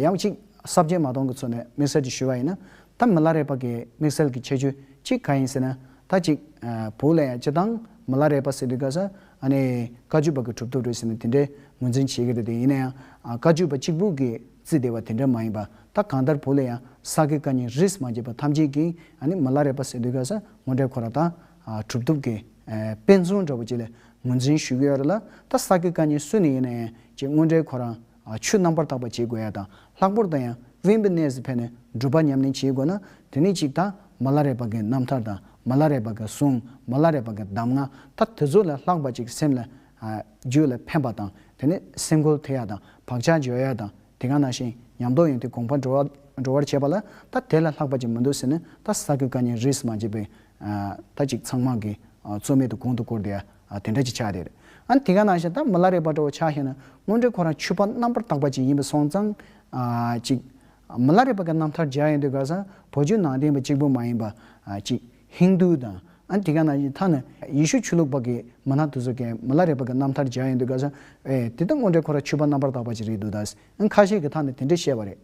ཡང་གཅིག། གསར་བརྗེ་མ་གཏོང་གི་ཚུལ་ནས་དམིགས་བསལ་གྱི་ཞུ་བ་ཡིན་ན། ད་མི་ལ་རས་པ་གི་དམིགས་བསལ་གྱི་ཁྱད་ཆོས་གཅིག་ག་ཡིན་ཟེར་ན། ད་ཅིག། བུ་ལ་ཡང་སྤྱི་བཏང་མི་ལ་རས་པ་ཟེར་དུས་ག་ས། ཨ་ནེ། བཀའ་བརྒྱུད་པ་གི་གྲུབ་ཐོབ་རེད་ཟེར་ནས་དེ་འདྲའི་ངོས་འཛིན་བྱེད་ཀྱི་རེད་དེ་ཡིན་ན་ཡང་བཀའ་བརྒྱུད་པ་གཅིག་པུ་གིས་བརྩིས་བསྡད་པ་དེ་འདྲ་མ་ཡིན་པ་ད་གང་ལྟར་བོད་ལ་ཡང་ས་དགེ་བཀའ་རྙིང་རིས་མ་བརྒྱད་པ་ཐམས་ཅད་ཀྱིས་ཨ་ནེ་མ་ལ་རས་པ་ཟེར་འདོད་ག་ས་ངོ་འདྲའི་ཁོ་རང་ད་གྲུབ་ཐོབ་ཀྱི་དཔེ་མཚོན་འདྲ་བོ་ཅིག་ལ་ངོས་འཛིན་ཞུས་ཀྱི་ཡོད་རེད་ལ་ད་ས་དགེ་བཀའ་རྙིང་སུ་ནས་ཡིན་ན་ཡང་ཅེས་ངོ་འདྲའི་ཁོ་རང་ཆུ་རྣམ་པར་དག་པ་བྱེད་དགོས་ཡ་དང་ལྷག་པོར་དང་ཡང་དབེན་པའི་གནས་སུ་ཕེབས་ནས་སྒྲུབ་པ་ཉམས་ལེན་བྱེད་དགོས་ན་དེ་ནི་གཅིག་དང་མ་ལ་རས་པ་གའི་རྣམ་ཐར་དང་མ་ལ་རས་པ་གའི་གསུང་མ་ལ་རས་པ་གའི་གདམས་ངག་ད་དེ་ཚོ་ལས་ལྷག་པ་ཅིག་སེམས་ལ་རྒྱུད་ལ་ཕན་པ་དང་དེ་ནི་སེམས་གོལ་ཐེབས་ཡ་དང་བག་ཆགས་འཇོ་ཡ་དང་དེ་ག་ནང་བཞིན་ཉམས་རྟོགས་ཡོན་ཏན་གོང་འཕར་འགྲོ་བར་བྱེད་པ་ལ་ད་དེ་ལས་ལྷག་པ་ཅིག་མི་འདུག་ཟེར་ནས་ད་ས་དགེ་བཀའ་ཉན་རིས་མ་བྱས་པའི་ད་ཅིག་ཚང་མ་གིས་རྩོད་མེད་དུ་གོང་དུ་བཀུར་བསྟི་ཡ། ཨ་དེ་འདྲ་ཅིག་ཆགས་རེད། ཨ་དེ་ག་ནང་བཞིན་ད་མི་ལ་རས་པ་འདྲ་བོ་ཆགས་ཤེས་ན་དངོས་འབྲེལ་ཁོ་རང་ཆུ་པ་རྣམ་པར་དག་པ་ཅིག་ཡིན་པ་སོང་ཙང། ཅིག། མི་ལ་རས་པ་ག་རྣམ་ཐར་སྦྱར་ཡོང་དུས་ག་སང་བོད་ཆུ་ནང་བསྟན་པ་གཅིག་པུ་མ་ཡིན་པ། ཅིག། ཧིན་རྡུ་དང། ཨ་དེ་ག་ནང་བཞིན་ད་ནི་ཡེ་ཤུ་ཆོས་ལུགས་པ་གི་མི་སྣ་དེ་ཚོ་གས་མི་ལ་རས་པ་ག་རྣམ་ཐར་སྦྱར་ཡོང་དུས་ག་སང། ཨེ། དེ་ད་དངོས་འབྲེལ་ཁོ་རང་ཆུ་པ་རྣམ་པར་དག་པ་ཅིག་རེད་འདུག་ད། ཁ་ཤས་ཀྱི་ད་ནི་དེ་འདྲ་བཤད་པ་རེད།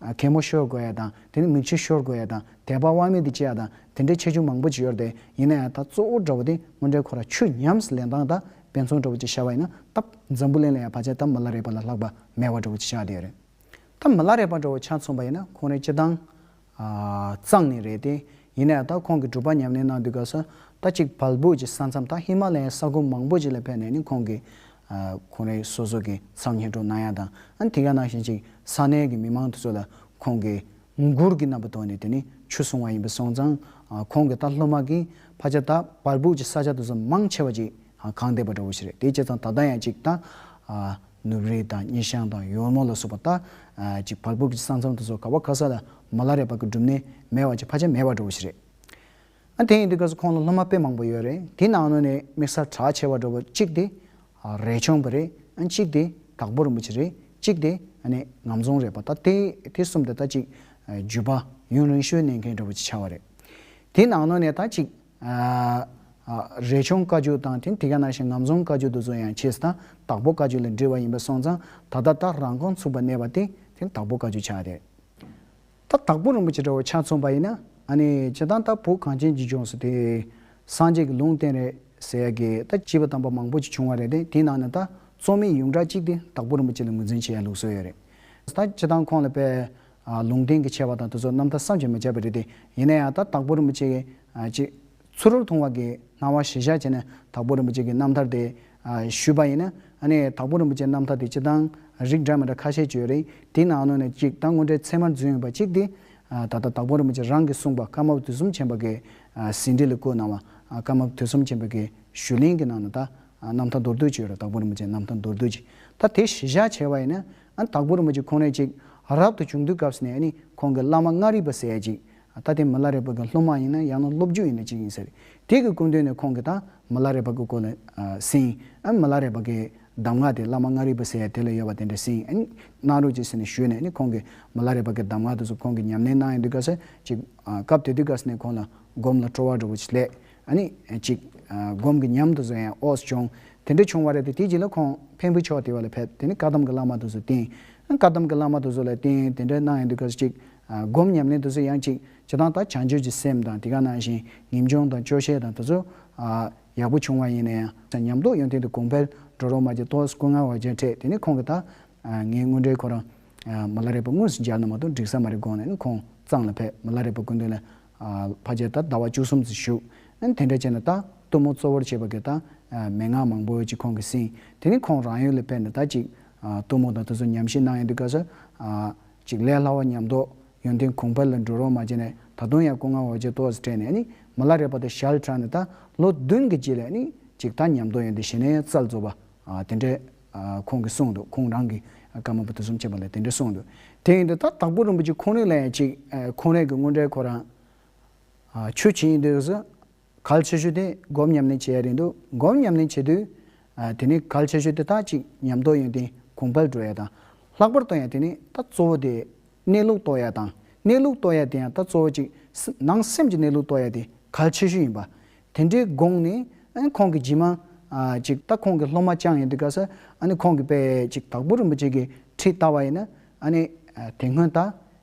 གད་མོ་ཤོར་དགོས་ཡ་དང་དེ་ནས་མིག་ཆུ་ཤོར་དགོས་ཡ་དང་དད་པ་དབང་མེད་དུ་སྐྱེ་ཡ་དང་དེ་འདྲའི་ཆེ་ཆུང་མང་པོ་ཅི་ཡོད་རེད་ཡིན་ན་ཡང་ད་གཙོ་བོ་དགྲ་བོ་དེ་དངོས་འབྲེལ་ཁོ་ར་ཆུ་ཉམས་སུ་ལེན་སྟངས་ད་དཔེ་མཚུངས་དགྲ་བོ་ཅིག་ཤར་བ་ཡིན་ན་ད་འཛམ་བུ་གླིང་ལ་ཡང་བར་ཆད་ད་མ་ལ་རེག་པ་ལ་ལྷག་པ་མེད་བ་དགྲ་བོ་ཅིག་ཤར་བ་དེ་ཡོད་རེད་ད་མ་ལ་རེག་པ་དགྲ་བོ་ཆ་མཚུངས་པ་ཡིན་ན་ཁོང་རེ་སྤྱི་བཏང་གཙང་ནི་རེད་དེ་ཡིན་ནའི་ད་ཁོང་གིས་གྲུབ་པ་ཉམས་ལེན་གནང་དུས་སྐབས་སུ་ད་ཅིག་བལ་སྦུག་གི་ས་མཚམས་དང་ཧི་མ་ལ་ཡའི་ས་ཁུལ་མང་པོ་ཅིག་ལ་ཕེབས་ནས་ནི་ཁོང་གིས་གོང་རིམ་སོ་སོ་གི་མཚམས་སྙན་སྒྲོག་གནང་ཡ་དང་ཨ་དེ་ག་གནང་བཞིན་ཅིག་ས་གནས་ཀྱི་མི་མང་དེ་ཚོ་ལ་ཁོང་གིས་མགུར་གྱི་རྣམ་པ་དོར་ནས་དེ་ནི་ཆུ་བཟུང་བ་ཡིན་པས་སོང་ཙང་ཁོང་གིས་ད་སློབ་མ་གིས་ཕ་ཆ་ད་བལ་སྦུག་གི་ས་ཆ་དེ་ཚོ་མང་ཆེ་བ་ཅིག་གང་བདེ་བར་འགྲོ་བ་ཞིག་རེད་དེའི་ཕྱིར་ཙང་ད་ལྟ་ཡང་ཅིག་ད། ནུབ་རིའི་དང་སྙེ་ཤང་དང་ཡོལ་མོ་ལ་སོགས་པ་ལྟ་ཅི་བར་བུབ་ཀྱི་ས་མཚམས་དུ་སོ་ག་བ་ཁ་ས་ལ་མོ་ལ་རས་པ་ཀྱི་སྒྲུབ་གནས་མེད་བ་ཅི་བར་ཆ་མེད་བར་འགྲོ་བ་ཞིག་རེད། ཨ་དེ་ཡིན་དུས་སྐབས་སུ་ཁོང་ལ་སློབ་མ་དཔེ་མང་པོ་ཡོད་རེད་དེའི་ནང་ནང་ནས་དམིགས་བསལ་གྲགས་ཆེ་བར་འགྲོ་བ་གཅིག་དེ། རས་ཆུང་བ་རེད། གཅིག་དེ། དྭགས་པོ་རིན་པོ་ཆེ་རེད། གཅིག་དེ། ངམ་རྫོང་རས་པ་ལྟ་སྟེ་དེ་གསུམ་དེ་ལྟ་ཅིག་བརྒྱུད་པ་ཡུན་རིང་ཤོས་གནས་མཁན་འགྲོ་བ་ཅིག་ཆགས་བ་རེད། དེའི་ནང་ནང་ནས་ལྟ་ཅིག་རས་ཆུང་བཀའ་བརྒྱུད་དང་དེ་ག་ནང་བཞིན་ངམ་རྫོང་བཀའ་བརྒྱུད་དུ་བཟོ་ཡང་ཆེས་དང་དྭགས་པོ་བཀའ་བརྒྱུད་ལས་འབྲི་བ་ཡིན་པ་སོང་ཙང་ད་ལྟ་སྟག་རང་ཁང་ཚུགས་པ་གནས་པ་དེ་དེ་དྭགས་པོ་བཀའ་བརྒྱུད་ཆགས་རེད་ད་དྭགས་པོ་རིན་པོ་ཆེ་འདྲ་བོ་ཆགས་ཚུངས་པ་ཡིན་ན་ཨ་ནི་ཇི་ལྟར་ད་བོད་གངས་ཅན་གྱི་ལྗོངས་སུ་དེ་སངས་རྒྱས་ཀྱི་ལུང་བསྟན་རེད་ཟེར་ཡ་དགེ་ད་བྱིས་པ་དམ་པ་མང་པོ་ཅིག་བྱུང་བ་རེད་དེ་དེའི་ནང་ནས་ད་རྩོམ་མི་ཡུང་གྲགས་གཅིག་དེ་དྭགས་པོ་རིན་པོ་ཆེ་ལ་ངོས་འཛིན་བྱེད་ཡ་ལུགས་བཟོ་ཡ་རེད་ད་ཇི་ལྟར་ཁོང་ལ་དཔལ་ལུང་བསྟན་གྱི་ཆེ་བ་དང་དུ་ཚོགས་རྣམ་ཐར་བསམ་གྱིས་མི་ཁྱབ་པ་རེད་དེ། ཡིན་ན་ཡང་ད་དྭགས་པོ་རིན་པོ་ཆེ་གི། ཅེས། ཚུར་རོལ་ཐུང་བ་གིས་སྣང་བ་གཞི་བཞག་བྱས་ནས་དྭགས་པོ་རིན་པོ་ཆེ་གི་རྣམ་ཐར་དེ། ཞུས་པ་ཡིན་ན། ནི། དྭགས་པོ་རིན་པོ་ཆེའི་རྣམ་ཐར་དེ་སྤྱིར་བཏང། རིགས་འདྲ་མི་འདྲ་ཁ་ཤས་བརྗོད་རིགས་དེའི་ནང་ནས་གཅིག་ད་དངོས་འབྲེལ་ཚད་མར་འཛིན་ཡོད་པ་གཅིག་དེ། ད་ལྟ་དྭགས་པོ་རིན་པོ་ཆེ་རང་གིས་གསུངས་པ་ཀརྨ་པ་དུས་གསུམ་ཆེན་པོ་གི། ཟིན་བྲིས་ལ་བཀོད་གནང་བ། ཀརྨ་པ་དུས་གསུམ་ཆེན་པོ་གི་ཞུས་ལན་གྱི་ནང་ནས་ད། རྣམ་ཐར་མདོར་བསྡུས་བྱས་ཡོད་རེད་དྭགས་པོ་རིན་པོ་ཆེའི་རྣམ་ཐར་མདོར་བསྡུས་ཀྱིས། ད་དེ་གཞི་བཞག་བྱས་པ་ཡིན་ན། དྭགས་པོ་རིན་པོ་ཆེ་ཁོང་ནས་ཅིག་རབ་ཏུ་བྱུང་དུས་སྐབས་ནས་ནི་ཁོང་གི་བླ་མ་མངའ་རིས་པ་ཟས་ཅིག་ད་ལྟའི་མི་ལ་རས་པ་གི་སློབ་མ་ཡིན་ན་ཡང་ན་སློབ་རྒྱུད་ཡིན་ན་ཅིག་ཡིན་ཟེར། དེ་གི་སྐུ་མདུན་ནས་ཁོང་གི་ད་མི་ལ་རས་པ་གི་སྐོར་ལ་ཟིན། མི་ལ་རས་པ་གི་གདམས་ངག་དེ་བླ་མ་མངའ་རིས་པ་ཟས་དེ་ལ་ཡོད་པ་དེ་འདྲ་ཟིན། གནང་རོགས་ཅིག་ཟེར་ནས་ཞུས་ནས་ནི་ཁོང་གི་མི་ལ་རས་པ་གི་གདམས་ངག་དེ་ཚོ་ཁོང་གི་ཉམས་ལེན་གནང་ཡོད་དུས་སྐབས་སུ་ཅིག་སྐབས་དེ་དུས་སྐབས་ནས་ཁོང་ལ་སྒོམ་ལ་སྤྲོ་བ་འགྲོ་བ་ཆེད་ལས། ཨ་ནི། ཅིག། སྒོམ་གྱི་ཉམས་དུ་བཟོ་ཡང་ཨོས་བྱུང། དེ་འདྲ་བྱུང་བ་རེད་དེ་དེའི་རྗེས་ལ་ཁོང་བེམ་པོའི་ཕྱོགས་དེ་བ་ལ་ཕེབས་དེ་ནི་བཀའ་གདམས་ཀྱི་བླ་མ་དུ་བཟོ་བསྟེན། བཀའ་གདམས་ཀྱི་བླ་མ་དུ་བཟོ་ལ་བསྟེན་དེ་འདྲ་གནང་ཡོང་དུས་སྐབས་སུ་ཅིག། སྒོམ་ཉམས་ལེན་དུ་བཟོ་ཡང་ཅིག། བྱེད་སྟངས་དག་བྱང་ཆུབ་ཀྱི་སེམས་དང་དེ་ག་ནང་བཞིན་ངེས་འབྱུང་དང་སྐྱོ་ཤས་དང་དེ་ཚོ། ཡག་པོ་བྱུང་བ་ཡིན་ན་ཡང། ཉམས་རྟོགས་ཡོང་ཐེངས་དུ་གོང་འཕེལ་འགྲོ་རོགས་མ་ཅིག་ཏོས་སྐུ་ངལ་བ་བརྒྱ་འཕྲད་དེ་ནི་ཁོང་གིས་ད། ངའི་དངུལ་འདྲེ་ཁོ་རང། མ་ལ་རས་པ་དངུལ་སུ་སྦྱར་ནས་མ་གཏོགས་འགྲིག་ས་མ་རེད་དགོངས་ནས་ནི་ཁོང་གཙང་ལ་ཕེབས་མ་ལ་རས་པ་སྐུ་མདུན་ལ་བ་བྱས་ལྟར་ཟླ་བ་བཅུ་གསུམ་བཞུགས། དེ་འདྲ་བྱས་ནས་ད་གཏུམ་མོ་གཙོ་བོར་བྱས་པ་གི་ད་མན་ངག་མང་པོ་ཅིག་ཁོང་གིས་གསན། དེ་ནི་ཁོང་རང་ཡུལ་ལ་ཕེབས་ནས་ད་ཅིག་གཏུམ་མོ་དང་དེ་ཚོ་ཉམས་བཞེས་གནང་ཡོང་དུས་དགའ་སོ། ཅིག་ལས་སླ་བ་ཉམས་རྟོགས་ཡོན་ཏན་གུང་ཕར་ལ་འགྲོ་རོགས་མ་བྱས་ནས་ད་དུང་ཡང་སྐུ་ངལ་བ་བྱས་ཏོག་སྤྲད་ནས་ནི་མི་ལ་རས་པ་དང་ཞལ་གྲངས་ནས་ད་ལོ་བདུན་གི་རྗེས་ལས་ནི་ཅིག་ད་ཉམས་རྟོགས་ཡོན་ཏན་བཞེས་ནས་རྩལ་རྫོགས་པ་དེ་འདྲའི། ཁོང་གིས་གསུངས་འདུག་ཁོང་རང་གིས་སྐར་མ་པོ་དུས་གསུམ་བྱེད་པ་ལས་དེ་འདྲ་གསུངས་འདུག་དེ་ཡིན་དུས་ད་དྭགས་པོ་རིན་པོ་ཆེ་ཁོང་རིགས་ལ་ཡང་ཅིག་ཁོང་རིགས་ཀྱི་དངོས་འབྲེལ་ཁོ་རང་ཆོས་བྱེད་ཡིན་དུས་སུ་གལ་ཆེ་ཤོས་དེ་སྒོམ་ཉམས་ལེན་བྱེད་ཡ་རེད་འདུག་སྒོམ་ཉམས་ལེན་བྱེད་དུས་དེ་ནི་གལ་ཆེ་ཤོས་དེ་དག་ཅིག་ཉམས་རྟོགས་ཡོན་ཏན་གོང་འཕེལ་འགྲོ་ཡ་དང་ལྷག་པར་གཏོང་ཡ་དེ་ནི་ད་གཙོ་བོ་དེ་གནས་ལུགས་རྟོགས་ཡ་དང་གནས་ལུགས་རྟོགས་ཡ་དེ་ཡང་ད་གཙོ་བོ་ཅིག་ནང་སེམས་ཀྱི་གནས་ལུགས་རྟོགས་ཡ་དེ་གལ་ཆེ་ཤོས་ཡིན་པ་དེ་འདྲའི་དགོངས་ནས་ཨ་ཁོང་གི་རྗེས་མ། ཅིག་ད་ཁོང་གི་སློབ་མ་བཅངས་ཡོད་འདུག་ག་ས་ཨ་ནི་ཁོང་གི་དཔེ་ཅིག་དྭགས་པོ་རིན་པོ་ཆེ་གི་ཁྲིད་བལྟ་བ་ཡིན་ན་ཨ་ནི། དེ་སྔོན་ད་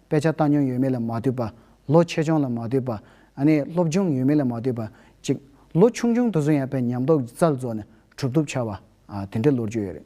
དཔེ་ཆ་ལྟ་མྱོང་ཡོད་མེད་ལ་མ་ལྟོས་པ། ལོ་ཆེ་ཆུང་ལ་མ་ལྟོས་པ། ཨ་ནི་སློབ་སྦྱོང་ཡོད་མེད་ལ་མ་ལྟོས་པ། ཅིག་ལོ་ཆུང་ཆུང་དུ་སོང་ཡང་དཔེ་ཉམས་རྟོགས་ཀྱི་རྩལ་རྫོགས་ནས་གྲུབ་ཐོབ་འཆར་བ། དེ་འདྲའི་ལོ་རྒྱུས་ཡོད་རེད།